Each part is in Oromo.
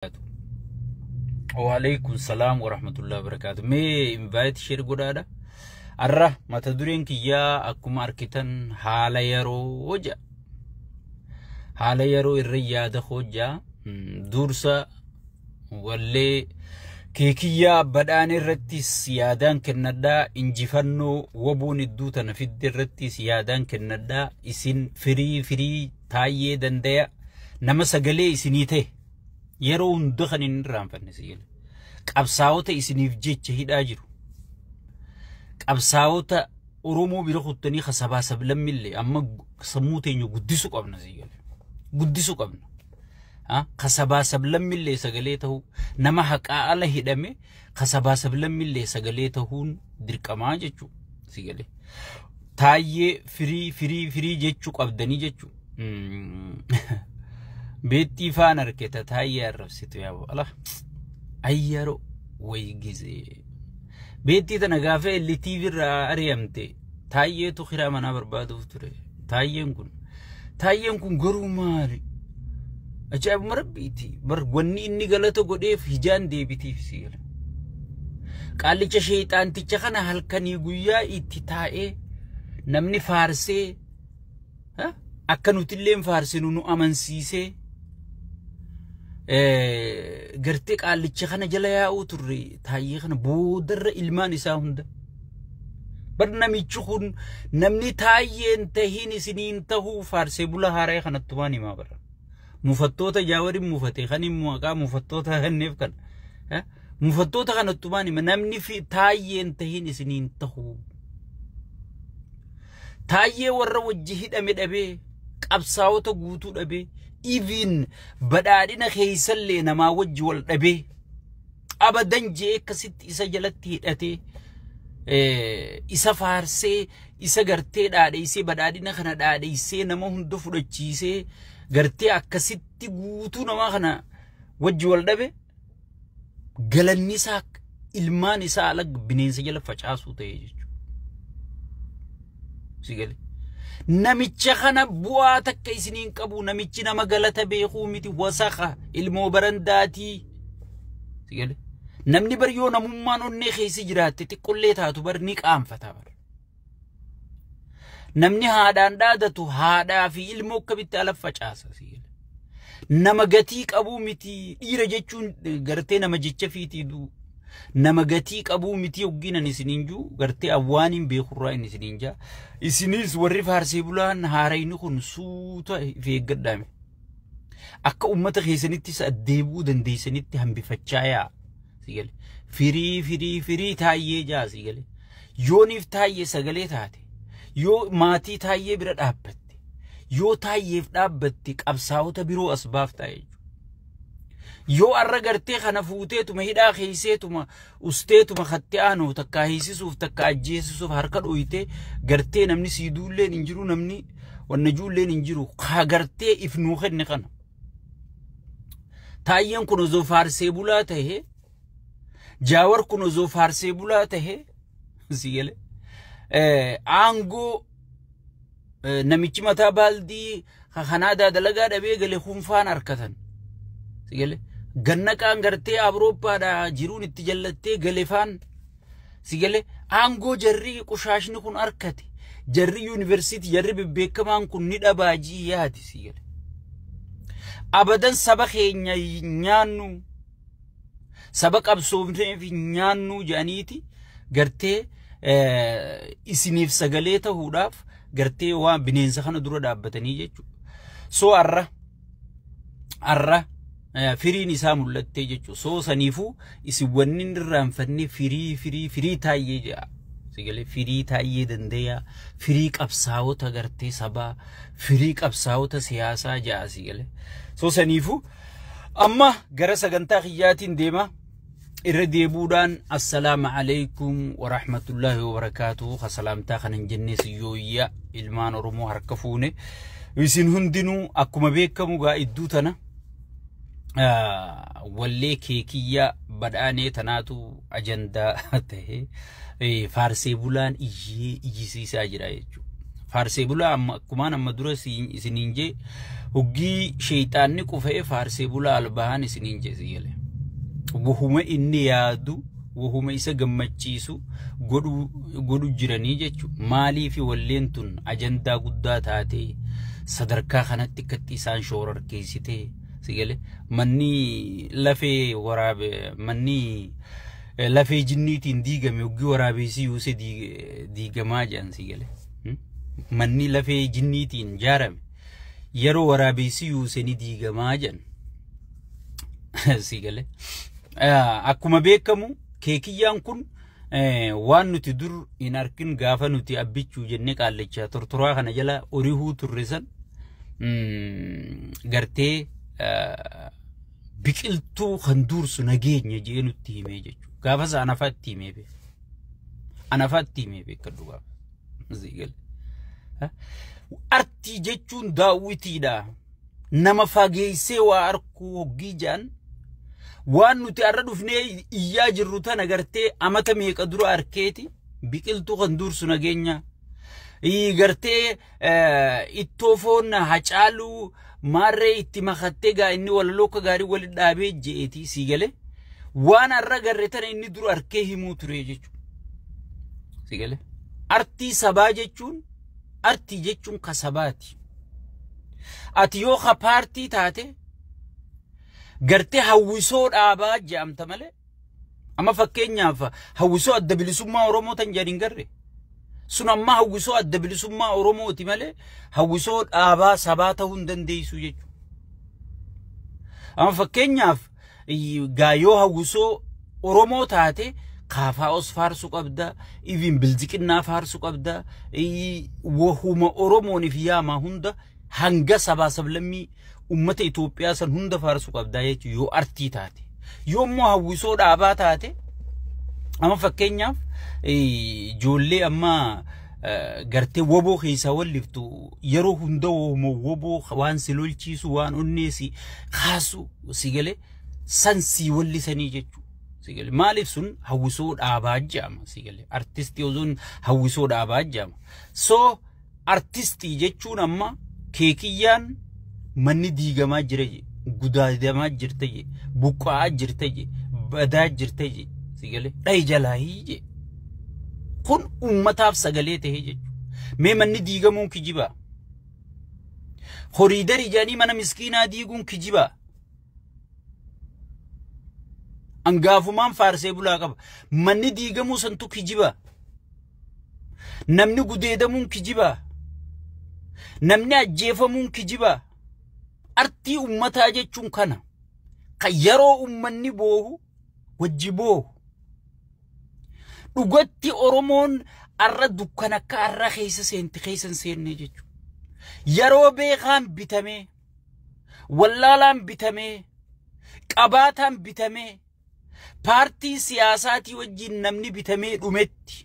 wabarakatuh. Waalaikum salaam warahmatullahi wabarakatuh. Mee invite share godhaadha. Arra mata dureen kiyyaa akkuma arkitan haala yeroo hoja. Haala yeroo irra yaada hojaa dursa wallee keekiyyaa badhaan irrattis yaadaan kennadhaa injifannoo waboon idduu tana fidde irrattis yaadaan kennadhaa isin firii firii taayyee dandaya nama sagalee isinii ta'e. Yeroo hunda kan hin irraanfanne si jedha. Qabsaa'ota isiniif jecha hidhaa jiru. Qabsaa'ota Oromoo bira kuttanii kan sabaa sablammillee amma sammuu teenya guddisuu qabna si jedha. Guddisuu qabna. Kan sabaa sablammillee sagalee ta'uu nama haqaa ala hidhame Ka sabaa sablammillee sagalee tahuun dirqamaa jechuu si galee. Taayyee firii firii firii jechuu qabdanii jechuu. Beettii faan arketa taayyee arrabsitu yaa ala. Ayyaro way gizee. Beettii tana gaafee illi TV irraa ari'amte Taayyeetu kiraa manaa barbaaduuf ture. Taayyeen kun. Taayyeen kun garuu maali? Ajaa'ibuma rabbiiti. Bar wanni inni galata godheef hijaan deebitiif si gala. Qaallicha sheeyxaanticha kana halkanii guyyaa itti taa'ee namni faarsee akka nutilleen faarsinu nu amansiisee gartee qaallicha kana jala yaa'uu turre taayyee kana boodarra ilmaan isaa hunda. Bar namichi kun namni taayyeen tahiin isiniin tahuu faarsee bula haara'ee kanatti waan himaa bara. Mufattoota jaawariin mufate kan hin maqaa mufattoota kanneef kana. Mufattoota kanatti waan hima namni taayyeen tahiin isiniin tahuu. Taayyee warra wajji hidhame dhabee, qabsaawota guutuu dhabee, even badhaadhina keessallee namaa wajji wal dhabee, abadan je'ee akkasitti isa jalatti hidhatee, isa faarsee, isa gartee dhaadheessee, badhaadhina kana dhaadheessee, nama hunda fudhachiisee, gartee akkasitti guutuu namaa kana wajji wal dhabe. galanni isaa ilmaan isaa ala bineensa jala facaasuu ta'e jechuudha. Si gale. Namicha kana bu'aa takka isiniin qabu namichi nama galata beekuu miti wasaka ilmoo barandaatii. Si gale. Namni bar yoo namummaan onnee keessa jiraatte xiqqollee taatu bar ni qaanfata bar. Namni haadhaan dhaadatu haadhaa fi ilmoo akkamitti ala facaasa siila. Nama gatii qabuu miti dhiira jechuun gartee nama jecha fiitii duu. Nama gatii qabuu miti hoggiinan isiniin juu gartee awwaaniin beekurraa hin isiniin jaa. Isinis warri faarsee bulaan haarayni kun suuta if eeggadhaame. Akka uummata keessanittis addeebuu dandeessanitti hambifachaa yaa. sii galee firii firii firii taayyee jaa sii galee yooniif taayyee sagalee taate yoo maatii taayyee bira dhaabbatte yoo taayyeef dhaabbatte qabsaa'ota biroo as baaftaa jechuudha yoo arra gartee kana fuuteetuma hidhaa keeyseetuma usteetuma katti aanoo takka hiisisuuf takka ajjeesisuuf harka dhooytee gartee namni sii duulleen hin jiru namni wanna juulleen hin jiru kaa gartee if nuu kenne kana Taayyeen kun osoo faarsee bulaa tahe jaawar kun osoo faarsee bulaa tahe si gale aangoo namichi mataa baaldii kanaadaa dalagaa dhabee gale hunfaan harkatan si gale gannaqaan gartee awurooppaadhaa jiruun itti jallattee galefaan Si galee aangoo jarri qushaashni kun harkate jarri yuunivarsiitii jarri bebbeekamaan kun ni dhabaa ji'i yaadi si galee. Abadan saba keenya nyaannu saba qabsoofneef nyaannu jedhaniiti gartee isiniif sagalee ta'uudhaaf gartee waan bineensa kana dura dhaabbatanii jechuudha. So har'a arra eh, firiin isaa mul'attee jechuudha. Soo saniifuu isin wanni hin irraanfanne firii firii firii taayyee jedha. Sigalee firii taayyee dandeeyaa firii qabsaa'ota gartee sabaa firii qabsaa'ota siyaasaa jedha sigalee. Soo saniifuu amma gara sagantaa kiyyaatiin deema. irra deebuudhaan assalaama alaikum warahmatullaahi wabarakaatu ka salaamtaa kan hin jennee siyyooyya ilmaan oromoo harka fuune isin hundinuu akkuma beekamu gaa idduu tana ah, wallee keekiyyaa badhaanee tanaatu ajandaa ta'e eh, faarsee bulaan iyyee iyyisiisaa jira jechuudha. Faarsee bulaa amma akkumaan amma dura siin- isiniin jee hoggii sheeyxaanni qufee faarsee bulaa albahaan isiniin jee si galee. Wahuma inni yaadu wahuma isa gammachiisu godhu godhu jiranii jechuudha. Maaliif walleen tun ajandaa guddaa taatee sadarkaa kanatti akkatti isaan shoorarkeessitee si galee manni lafee waraabe manni Eh, Lafee jinniitiin diigame hoggi waraabeessi yuuse diig- diigamaa jedhan si gale. Hmm? Manni lafee jinniitiin jaarame yeroo waraabeessi yuuse ni diigamaa jedhan. si gale. Ah, Akkuma beekamu keekiyyaan kun eh, waan nuti dur hin arkin gaafa nuti abbichuu jennee qaallachaa tortoraa kana jala orihuu turre san mm, gartee ah, biqiltuu kan duursu nageenya jee nutti himee jechuudha. Gaafa sana anafaa itti himee beeku. Anafaa itti himee beeku dhugaa. Artii jechuun daawwitiidha. Nama fageessee waa arkuu hoggii jaan waan nuti har'a dhufnee iyyaa jirru tan agartee amata meeqa dura arkeeti biqiltuu kan duursu nageenya gartee ittoo foon hacaaluu maarree itti makattee gaa inni walaloo akka gaarii wali dhaabee je'eeti sii galee waan har'a garre tana inni dura harkee himuu ture jechuudha. Sii galee artii sabaa jechuun artii jechuun ka sabaati. Ati yoo ka paartii taate gartee hawwisoo dhaabaa je'amta malee Amma fakkeenyaaf hawwisoo adda bilisummaa Oromoo tan jedhan hin garre. Sun amma hawwisoo adda bilisummaa Oromooti malee hawwisoo dhaabaa sabaa ta'uu hin dandeessu jechuudha. Amma fakkeenyaaf gaayoo hawwisoo Oromoo taate kaafaa'os faarsu qabda, iviin bilziqinnaa faarsu qabda, wahuma Oromooniif yaamaa hunda hanga sabaa sablammii ummata Itoophiyaa san hunda faarsu qabdaa jechuun yoo artii taate yoo immoo hawwisoo dhaabaa taate amma fakkeenyaaf ijoollee amma gartee woboo keessaa walliftu yeroo hunda woboo waan si lolchiisu waan onnee si kaasu si galee san sii wallisanii jechuudha. sigale maaliif sun hawwisoo dhaabaa jedhama sigale artistii osoon hawwisoo dhaabaa jedhama so Artistii jechuun amma keekiyyaan manni diigamaa jira je gudaadamaa jirta je buqqa'aa jirta je badaa jirta je si galee dhahi jalaahii je kun ummataaf sagalee ta'ee jechuudha mee manni diigamuun kijibaa horiidarii jedhanii mana miskiinaa diiguun kijibaa angaafumaan faarsee bulaa qaba manni diigamuu santu kijibaa Namni gudeedamuun kijibaa? Namni ajjeefamuun kijibaa? Artii ummataa jechuun kana. Kan yeroo ummanni boohu wajji boohu. Dhugatti Oromoon arra dukkan akka arra keessa seenti keessa hin seenne jechuudha. Yeroo beekaan bitamee, wallaalaan bitamee, qabaataan bitamee, paartii siyaasaatii wajjin namni bitamee dhumetti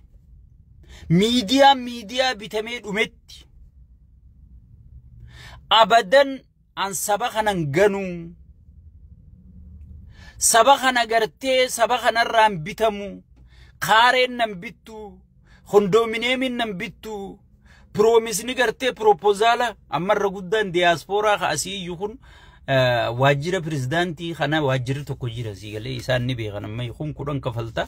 miidiyaan miidiyaa bitamee dhumetti abadan an saba kanan ganuu saba kana gartee saba kanarraan bitamu kaareen nan bittu Kondoomineemiin nan bittu piroomisni gartee piroopozaala ammarra guddaan diyaaspooraa ka asii iyyu kun waajjira pirezidaantii kana waajjirri tokko jira sii galee isaan ni beekan amma kun kudhan kafalta.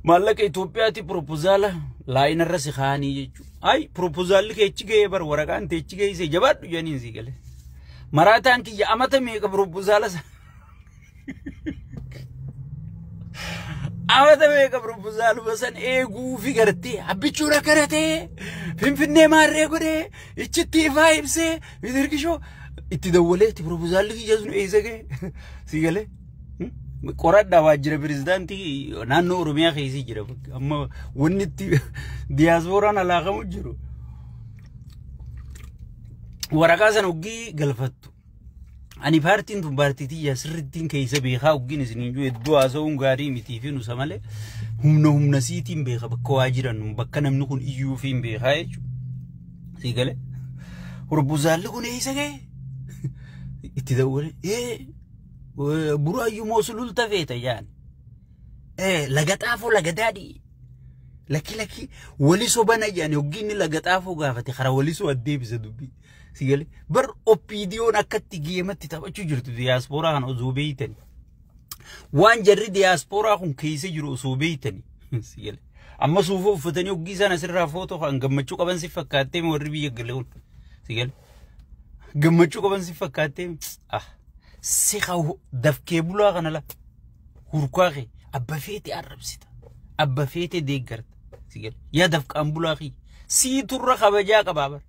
Maallaqa Itoophiyaati piroopozaala laayinarra si kaa'anii jechuudha. Ayi piroopozaalli kee achi ga'ee bar waraqaan tee achi ga'ee jabaadhu jedhaniin sii galee. Maraataan kiyya amata meeqa piroopozaala sana. Amata meeqa proposaaluma san eeguu fi gartee abbichuun akka ratee finfinnee maarree godhee ichitti ifaa ibsee mitirkishoo itti dawwalee itti proposaalli kiyya sun eessa ga'e si galee qoradhaa waajjira pirezidaantii naannoo Oromiyaa keessi jira amma wanni itti diyaasporaan alaakamu jiru waraqaa san hoggii galfattu Ani paartiin tun paartii tiyya sirrittiin keessa beekaa oggiin isin hin jiru hedduu haasa'uun gaarii mitii fi nusa malee humna humna siitiin beeka bakka waa jiran bakka namni kun iyyuu fi hin beekaa jechuudha. Sii galee. Hurbuzaalli kun eessa ga'e? Itti dawwalee ee buraayyuu moo sululta feeta jaan. Ee laga xaafoo laga daadhii. Lakki lakki wali sobana jaan oggiin laga xaafoo gaafate karaa wali soo addeebisa dubbii. Si galee bar oppiidiyoon akkatti geematti taphachuu jirtu diyaaspooraa kana osoo beeytani. Waan jarri diyaaspooraa kun keessa jiru osoo beeytani. Si galee. Amma suufa uffatanii hoggii isaan asirraa footoo kan gammachuu qaban si fakkaattee warri biyya galee kun. Si galee. Gammachuu qaban si fakkaattee ah si haa dafkee bulaa kana laa. Hurkaa kee abba feete arrabsita. Abba feete deeggarta. Si galee. Yaa dafqaan bulaa kee. Sii turra kabajaa qabaa bar.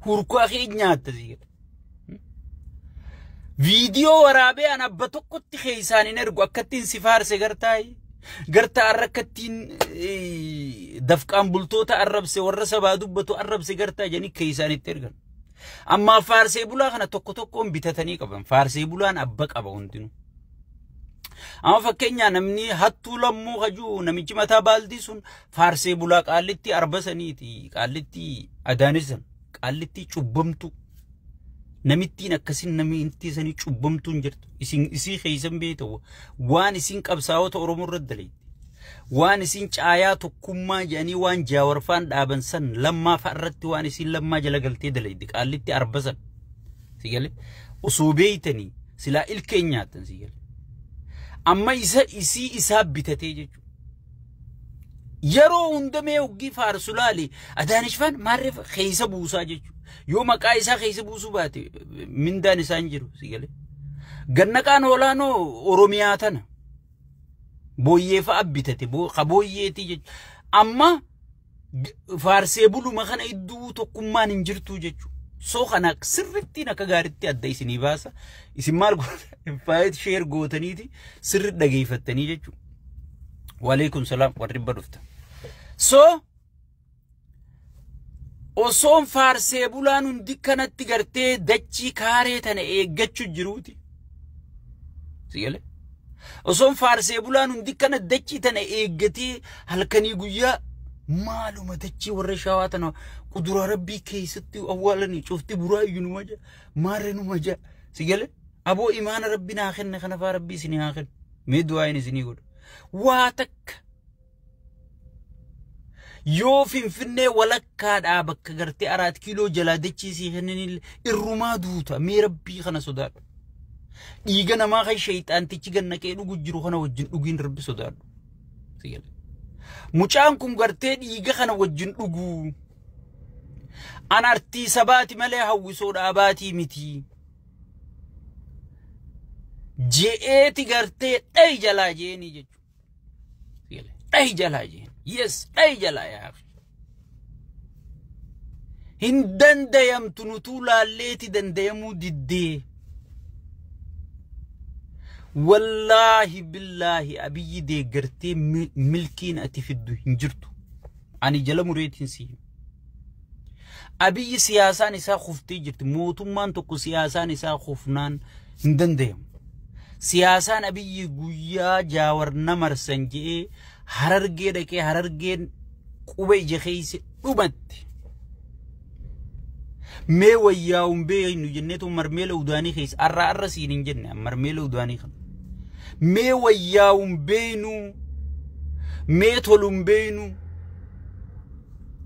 Hurkaa kee nyaatta sii gala. Viidiyoo waraabee an abba tokkotti keessaan hin ergu akkattiin si faarse gartaayi. Garta arra akkattiin dafqaan bultoota arrabse warra sabaa dubbatu arrabse gartaa jedhanii keessaan itti ergan. Amma faarsee bulaa kana tokko tokkoon bitatanii qaban. Faarsee bulaan abba qaba hundinuu. Amma fakkeenyaa namni hattuu lammuu kajuu namichi mataa baaldii sun faarsee bulaa qaallittii arba saniiti qaallittii agaanissan qaallittii cubbamtuu namittiin akkasin namittii sanii cubbamtuun jirtu isin isii keessan beeyta waan isin qabsaa'ota oromoo irra daleetti waan isin caayaa tokkummaa jedhanii waan jaawarfaan dhaaban san lammaa fa'a irratti waan isin lammaa jala galtee daleetti qaallittii arba san si galee osoo beeytanii silaa ilkeen nyaatan si galee amma isa isii isaa bitatee jechuudha. Yeroo hunda mee hoggii faarsu laali. Adaanishfaan maarreef keessa buusaa jechuudha. Yoo maqaa isaa keessa buusuu baate mindaan isaa hin jiru si galee. Gannaqaan olaanoo Oromiyaa tana. Booyyee fa'a bitate ka booyyeetii jechuudha. Amma faarsee buluma kana idduu tokkummaan hin jirtuu jechuudha. So kana sirrittiin akka gaariitti adda isinii baasa. Isin maal gootan? Faayit sheer gootaniiti sirri dhageeffattanii jechuudha. Waleekun salaam warri ibba dhufta. So osoon faarsee bulaan hundi kanatti gartee dachii kaaree tana eeggachuu jiruuti. Sigalee. Osoon faarsee bulaan hundi kana dachii tana eeggatee halkanii guyyaa maaluma dachii warra shawaa tana kuduraa rabbii keessatti awwaalanii cufti buraayyuu numa jaa maarre numa jaa sigalee aboo imaana rabbi naa kenne kanafaa rabbii isinii haa kennu mee du'aayin isinii godha waa takka Yoo finfinnee walakkaadhaa bakka gartee araat kiiloo jalaa dachii sii kenninille irrumaa duuta mee rabbii kana sodaadhu. Dhiiga namaa kan sheeyxaantichi gannaqee dhugu jiru kana wajjin dhugiin rabbi sodaadhu. Si gale. Mucaan kun gartee dhiiga kana wajjin dhuguu. An artii sabaati malee hawwisoodha abaatii miti. Je'eeti gartee dhayi jalaa je'eenii jechuudha. Dhahi jalaa jeen. Yes, dhahi jalaa yaa. Hin dandayamtu nutuu laalleeti dandayamuu diddee. Wallaahi billaahi abiyyi deeggartee milkiin ati fiddu hin jirtu. Ani jala mureetiin si hima. Abiyyi siyaasaan isaa kuftee jirti. Mootummaan tokko siyaasaan isaa kufnaan hin danda'amu. Siyaasaan Abiyyi guyyaa jaawar na marsan je'ee harargee dhaqee harargeen quba ija keessa dhumatti. Mee wayyaa'uun beeknu jenneetu marmeela udaanii keessa arraa arra siin hin jenne marmeela udaanii kana. Mee wayyaa'uun beeknu mee toluun beeknu.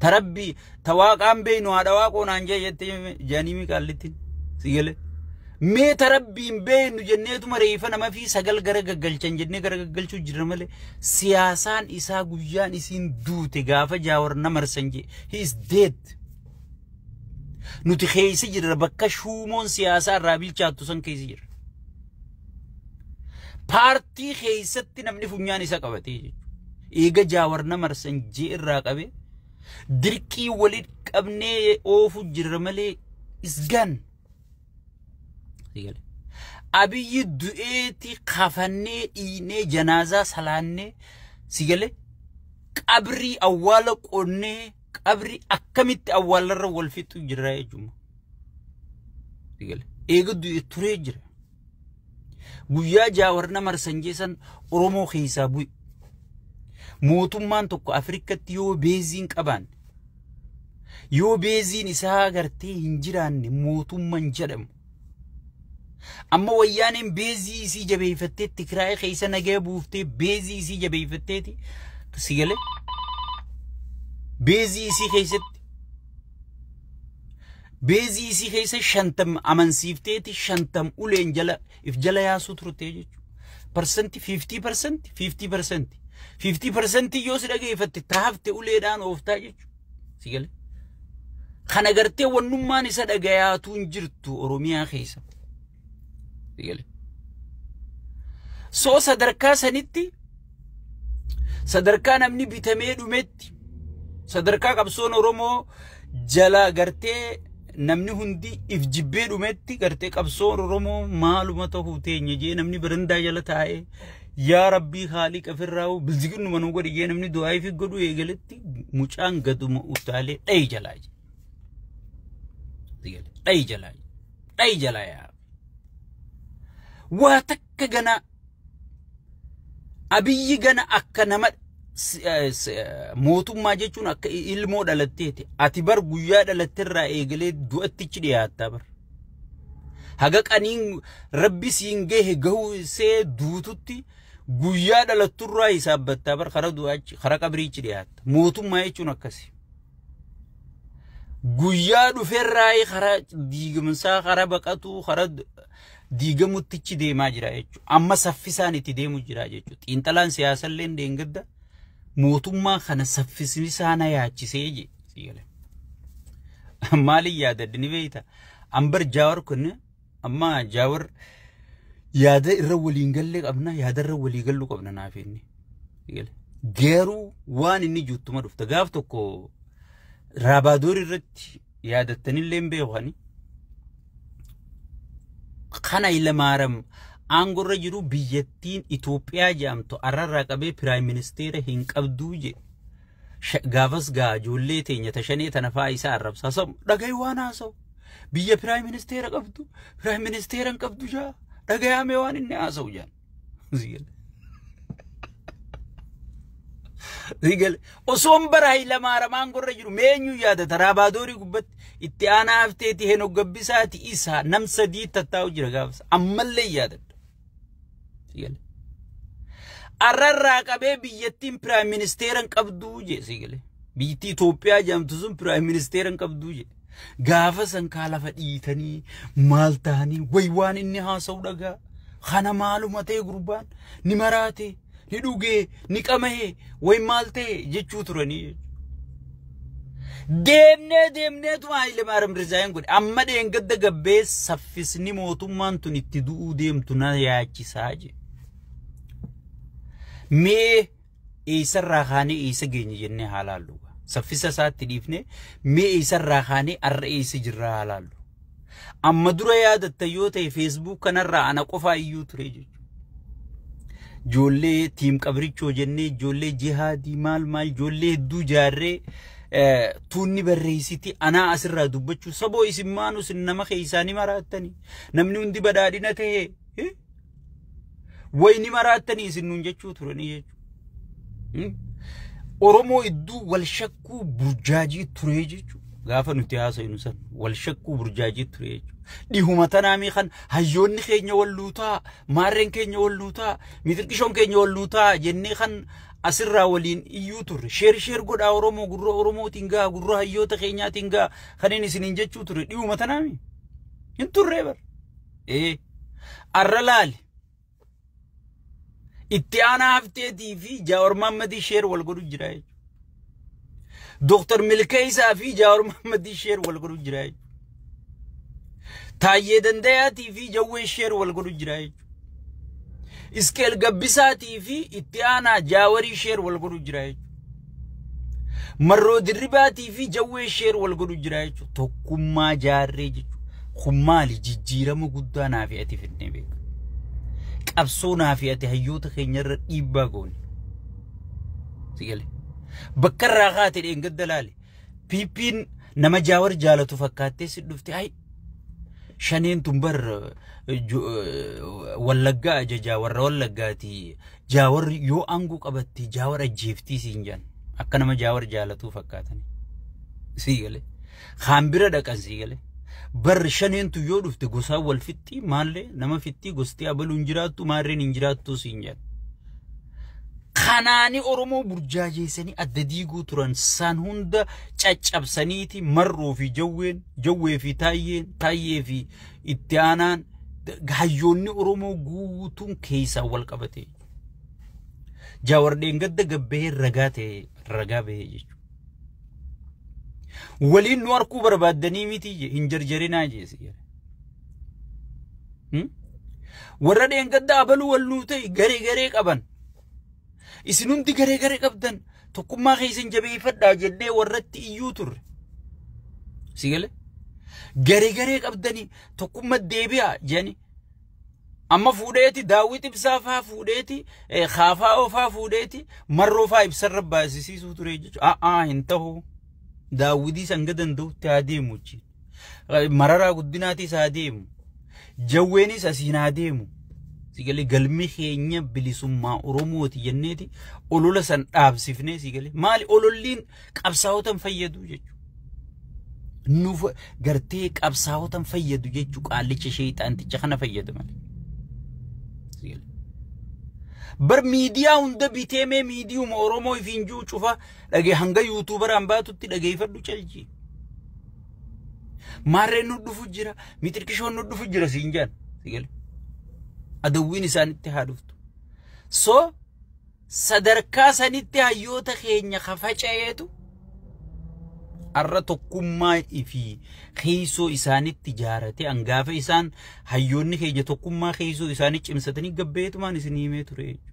Ta rabbii ta waaqaan beeynu haadha waaqoo naan jee jette jaanii mi qaallittiin si galee. Mee ta rabbiin beeynu jenneetuma reefa nama fi sagal gara gaggalchan jennee gara gaggalchuu jirra malee siyaasaan isaa guyyaan isiin duute gaafa jaawar na marsan jee he is dead. Nuti keessa jirra bakka shuumoon siyaasaa irraa bilchaattu san keessa jirra. Paartii keessatti namni funyaan isa qabatee jechuudha. Eega jaawar nama arsanjii irraa qabe dirqii waliin qabnee oofu jirra malee isgaan. Abiyyi du'eeti kafannee dhiinee janaazaa salaannee sigale qabrii awwaala qonnee qabri akkamitti awwaalarra wal fixu jira jechuudha. Eega du'e turee jira. Guyyaa jaawar nama arsanjeessan Oromoo keessaa bu'e. Mootummaan tokko Afrikatti yoo beeziin qabaan yoo beeziin isaa agartee hin jiraanne mootummaan jedhamu. Amma wayyaaneen beezii isii jabeeffattee Tigraay keessa nagaya buuftee beezii isii jabeeffatteeti si galee beezii isii keessatti beezii isii keessa shantam amansiifteeti shantam uleen jala if jala yaasuu turte jechuudha. Parsanti 50 parsanti 50 parsanti 50 parsanti yoo si dhageeffatte taafte uleedhaan ooftaa jechuudha. Si gale? Kana gartee wannummaan isa dhagayaatu hin jirtu Oromiyaa keessa. Si gale? Soo sadarkaa sanitti sadarkaa namni bitamee dhumetti sadarkaa qabsoon Oromoo jala gartee namni hundi if jibbee dhumetti gartee qabsoon Oromoo maaluma ta'uu teenya jee namni barandaa jala taa'ee Yaa Rabbii Haaliqa firraawu bilziginnuma nu godhi jee namni du'aa fi godhu eegaletti mucaan gaduma utaalee dhayi jalaa jee. Dhayi jalaa jee. Dhayi jalaa yaa. Waa takka ganaa abiyyi gana akka nama mootummaa jechuun akka ilmoo dhalatteeti. Ati bar guyyaa dhalatterraa eegalee du'attichi dhiyaattaa bar. Haga qaniin rabbi siin gahe gahuu see duututti guyyaa dhalatturraa hisaabbattaa bar kara du'aachi kara qabriichi dhiyaatta. Mootummaa jechuun akkasi. Guyyaa dhuferraa kara diigamsaa kara baqatuu kara diigamuttichi deemaa jira jechuudha. Amma saffisaan itti deemu jira jechuudha. Xiinxalaan siyaasallee deengadda. mootummaa kana saffisni isaa na yaachisee je sii gale. Maaliin yaadadde ni beekta? Ambar jaawar kun amma jaawar yaada irra waliin galle qabna yaada irra walii gallu qabna naaf inni. Sii gale. Garuu waan inni juuttuma dhufta gaaf tokko raabaadoor irratti yaadattanillee hin beeku ani. Kana Ilamaaram aangorra jiru biyyattiin Itoophiyaa jedhamtu arrarraa qabee piraayim ministeera hin qabduu jedhe. Gaafas gaa ijoollee teenya tashanee tana fa'aa isaa arrabsaa samu dhagahi waan haasa'u. Biyya piraayim ministeera qabdu piraayim ministeera hin qabdu jaa dhagayaamee waan inni haasa'u jaan. Sigale osoon bara Hayilamaaramaan gorra jiru meenyu yaada taraa baadoorii gubbatti itti aanaa hafteeti henook gabbisaati isaa nam sadii tattaa'u jira gaafas ammallee yaadadha. Sigale. Arrarraa qabee biyyattiin piraayim ministeera hin qabduu jee sigale. Biyyattii Itoophiyaa jedhamtu sun piraayim ministeera hin qabduu jee. Gaafa san kaa lafa dhiitanii maal tahanii way waan inni haasa'u dhagaa. Kana maaluma ta'e gurbaan ni maraate ni dhugee ni qama'ee way maal ta'e jechuu turanii jechuudha. Deemnee deemneetu Haayile Maaram Rizaayeen godhe. Amma dheengadda gabbee saffisni mootummaan tun itti du'uu deemtu na yaachisaa jedhe. Mee eessarraa kaanee eessa geenye jennee haa laallu. Saffisa isaatti dhiifnee mee eessarraa kaanee har'a eessa jirraa haa laallu. Amma dura yaadatta yoo ta'e feesbuuk kanarraa ana qofaa iyyuu ture jechuudha. Ijoollee tiim qabrichoo jennee ijoollee jihaadii maal maal ijoollee hedduu jaarree tuunni barreessiti anaa asirraa dubbachuu saboo isin maanus nama keessaanii maraattanii namni hundi badhaadhina ta'ee Wayni maraattanii isin nuun jechuu turanii jechuudha. Oromoo idduu wal shakkuu burjaajii turee jechuudha. Gaafa nuti haasofnu san wal shakkuu burjaajii turee jechuudha. Dhihuma tanaamii kan hayyoonni keenya wal luutaa, maarreen keenya wal luutaa, mitirqishoon keenya wal luutaa jennee kan asirraa waliin iyyuu turre. Sheer sheer godhaa Oromoo gurra Oromootiin gaha, gurra hayyoota keenyaatiin gaha kan inni isiniin jechuu ture. Dhihuma tanaamii hin turree bara. ee arra laali itti aanaa hafteetii fi jaawar maammadii sheer wal godhu jira jechuudha. Dooktar Milkeessaa fi jaawar maammadii sheer wal godhu jira jechuudha. Taayyee Dandayaatii fi jawwee sheer wal godhu jira jechuudha. Iskeel Gabbisaatii fi itti aanaa jaawarii sheer wal godhu jira jechuudha. Marroo dirribaatii fi jawwee sheer wal godhu jira jechuudha. Tokkummaa jaarree jechuudha. Kun maali jijjiirama guddaa naa fi ati fidnee beeka. Qabsoo naa fi ati hayyoota keenya irra dhiibbaa goone. Sigale. Bakka irraa kaate dheengadda laale. Piippiin nama jaawar jaalatu fakkaattee si dhufte. Shaneen tun bar wallaggaa ajajaa warra wallaggaati jaawar yoo aangoo qabatte jaawar ajjeeftii siin jedhan akka nama jaawar jaalatuu fakkaatan sii galee kaan bira dhaqan sii galee bar shaneen tun yoo dhufte gosaan wal fixxii maallee nama fixxii gostii abaluun jiraattu maarreen hin jiraattuu siin jedhan kanaani Oromoo burjaajeessanii adda diiguu turan san hunda caccabsaniiti marroo fi jawween jawwee fi taayyeen taayyee fi itti aanaan hayyoonni Oromoo guutuun keessaa wal qabate. Jaawardeen gadda gabbee ragaa ta'e ragaa bahee jechuudha. Waliin nu harkuu barbaaddanii miti hin jarjarinaa jeesi. warra dheengaddaa abaluu wal nuu ta'e garee garee qaban isin hundi garee garee qabdan tokkummaa keessan jabeeffadhaa jennee warratti iyyuu turre. Si galee? Garee garee qabdanii tokkummaa deebi'aa jedhanii amma fuudheeti daawwit ibsaa faa fuudheeti kaafaa ofaa fuudheeti marroo faa ibsarra baasisiisuu ture jechuudha. A'aa hin ta'u daawwitii sanga danda'utti haa deemu jechuudha. Mararaa guddinaatis haa deemu. Jawweenis asiin haa deemu. Sigalee galmi keenya bilisummaa Oromooti jenneeti olola san dhaabsifnee sigalee maali ololliin qabsaa'otan fayyadu jechuudha. Nuuf gartee qabsaa'otan fayyadu jechuudha qaallicha sheexaanticha kana fayyadu malee. Bar miidiyaa hunda bitee mee miidiyuma Oromoo ifiin juu cufa Dhagee hanga yuutuubaraan baatutti dhageeffadhu calji. Maarreen nu dhufu jira, mixirqishoon nu dhufu jira siin jaan. Sigale. Adawwiin isaanitti haa dhuftu. So sadarkaa sanitti hayyoota keenya ka faca'eetu arra tokkummaa fi keessoo isaanitti jaarate angaafa isaan hayyoonni keenya tokkummaa keessoo isaanii cimsatanii gabbeetumaan isin himee ture jechuudha.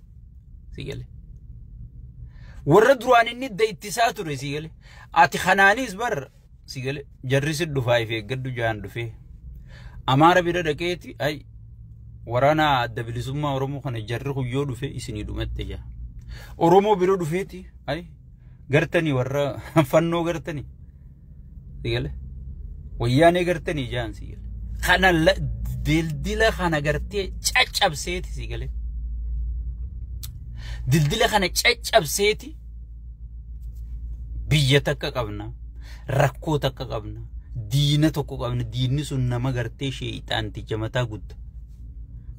si gale warra duraan inni idda ittisaa ture si gale ati kanaanis bar si gale jarri si dhufaa if eeggadhu jaan dhufee amaara bira dhaqeeti ay waraana adda bilisummaa oromoo kana jarri kun yoo dhufe isinii dhumatte jaa oromoo bira dhufeeti ay gartanii warra fannoo gartanii Sigale. Wayyaanee gartanii jaan sigale. Kana dildila kana gartee caccabseeti sigale. Dildila kana caccabseeti biyya takka qabna. Rakkoo takka qabna. Diina tokko qabna. Diinni sun nama gartee sheeyxaanticha mataa gudda.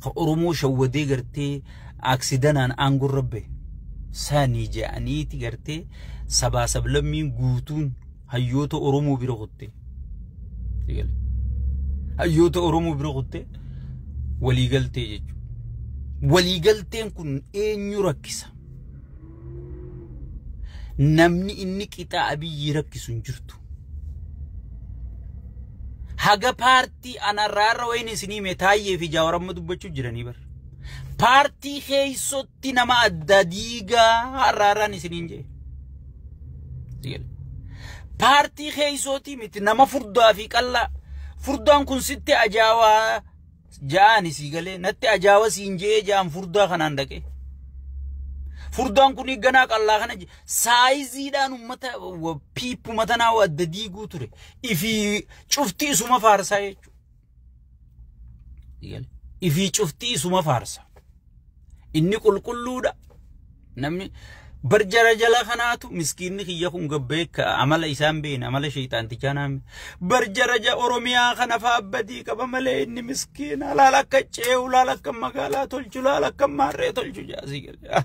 Ka Oromoo shawwadee gartee aksidanaan aangorra bahe sani je'aniiti gartee sabaa sablammiin guutuun hayyoota Oromoo bira kutte. Eegale. Hayyoota Oromoo bira kutte walii galtee jechuudha. Walii galteen kun eenyu rakkisa? Namni inni qixaa abiyyii rakkisu hin jirtu. Haga paartii anarraarra wayini isinii mee taayyee fi jaawaramma dubbachuu jiranii bara. Paartii keessotti nama adda diigaa har'a har'aan isiniin jee. Paartii keessootii miti nama furdaa fi qallaa. Furdaan kun sitti ajaawaa ja'aan isii galee natti ajaawa siin je'ee ja'aan furdaa kanaan dhaqee. Furdaan kun ganaa qallaa kana je- saayiziidhaan uummata piippuma tanaa adda diiguu ture. Ifi cufti isuma faarsaa jechuudha. Ifii cuftii isuma faarsa. Inni qulqulluudha. Namni bar jara jala kanaatu miskiinni kiyya kun gabbee amala isaan beekne amala sheexaantichaa naan bar jara ja Oromiyaa kana fa'aa badii qaba malee inni miskiina laal akka ceehu laal akka magaalaa tolchu laal akka maarree tolchu jaasii galee.